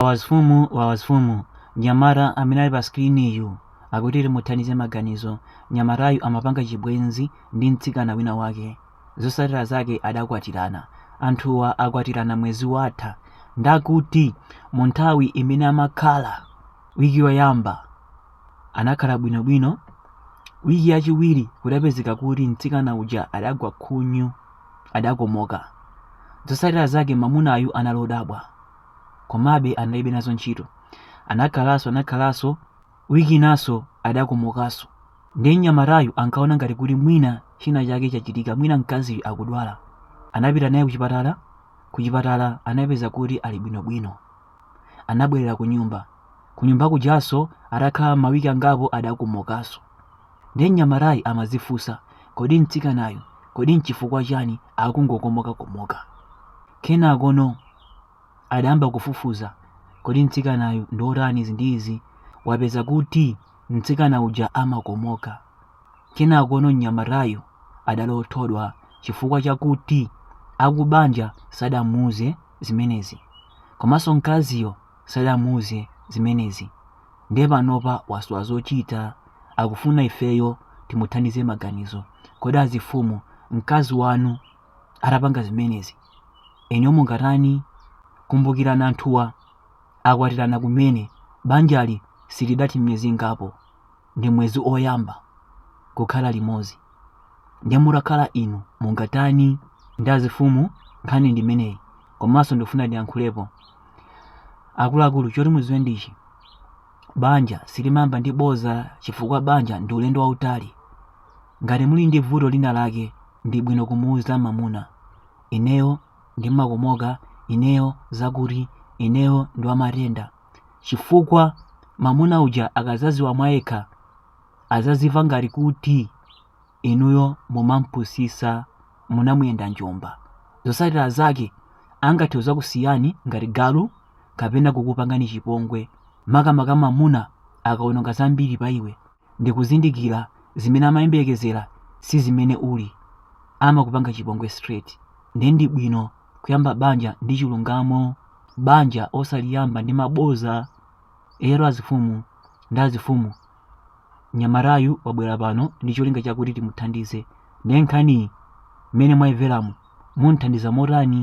Wawa azifumu mnyamata amene ali pa skiriniyu akuti timuthandize maganizo mnyamatayu amapanga chibwenzi ndi mtsikana wina wake zosatira zake adakwatirana anthuwa akwatirana mwezi watha ndakuti mu nthawi imene amakhala wiki yoyamba anakhala bwinobwino wiki yachiwiri kudapezeka kuti mtsikana uja adagwa khunyu adakomoka zosatira zake mamunayu anali odabwa komabe analibe nazo ntchito anakhalanso anakhalanso wiki inanso adakomokanso ndiye mnyamatayu ankaona ngati kuti mwina china chake chachitika mwina mkaziyu akudwala anapita naye kuchipatala kuchipatala anapeza kuti ali bwinobwino anabwerera ku nyumba ku nyumba kujanso atakhala mawiki angapo adakomokanso ndiye mnyamatayu amadzifunsa kodi mtsikanayu kodi nchifukwa chani akungokomokakomoka kenakono adayamba kufufuza kodi mtsikanayu ndi otani izi ndi izi wapeza kuti mtsikana uja amakomoka kenakono mnyamatayu adali othodwa chifukwa chakuti akubanja sadamuuze zimenezi komanso mkaziyo sadamuuze zimenezi ndiye panopa wasowa zochita akufuna ifeyo timuthandize maganizo kodi azifumu mkazi wanu atapanga zimenezi inuyo mungatani kumbukirani anthuwa akwatirana kumene banjali silidathe miyezi ingapo ndi mwezi oyamba kukhala limozi ndiye mutakhala inu mungatani nde azifumu nkhani ndimeneyi komanso ndikufuna ndiyankhulepo akuluakulu choti muziwe ndichi banja silimayamba ndi boza chifukwa banja ndi ulendo wautali Ngati muli ndi vuto lina lake ndi bwino kumuuza mamuna. Ineyo ndimakomoka, ineyo zakuti, ineyo ndi wamatenda. Chifukwa mamuna uja akazaziwa mwayekha azazimva ngati kuti inuyo mumampusisa munamuyenda njomba. Zosatira zake angathe kuzakusiyani ngati galu kapena kukupangani chipongwe makamaka mamuna akaononga zambiri pa iwe. ndi kuzindikira zimene amayembekezera sizimene uli amakupanga chipongwe straight nde ndi bwino kuyamba banja ndi chilungamo banja osaliyamba ndi maboza eyetu azifumu nde azifumu mnyamatayu wabwera pano ndi cholinga chakuti timuthandize nde nkhaniyi mmene mwaimveramu mumuthandiza motani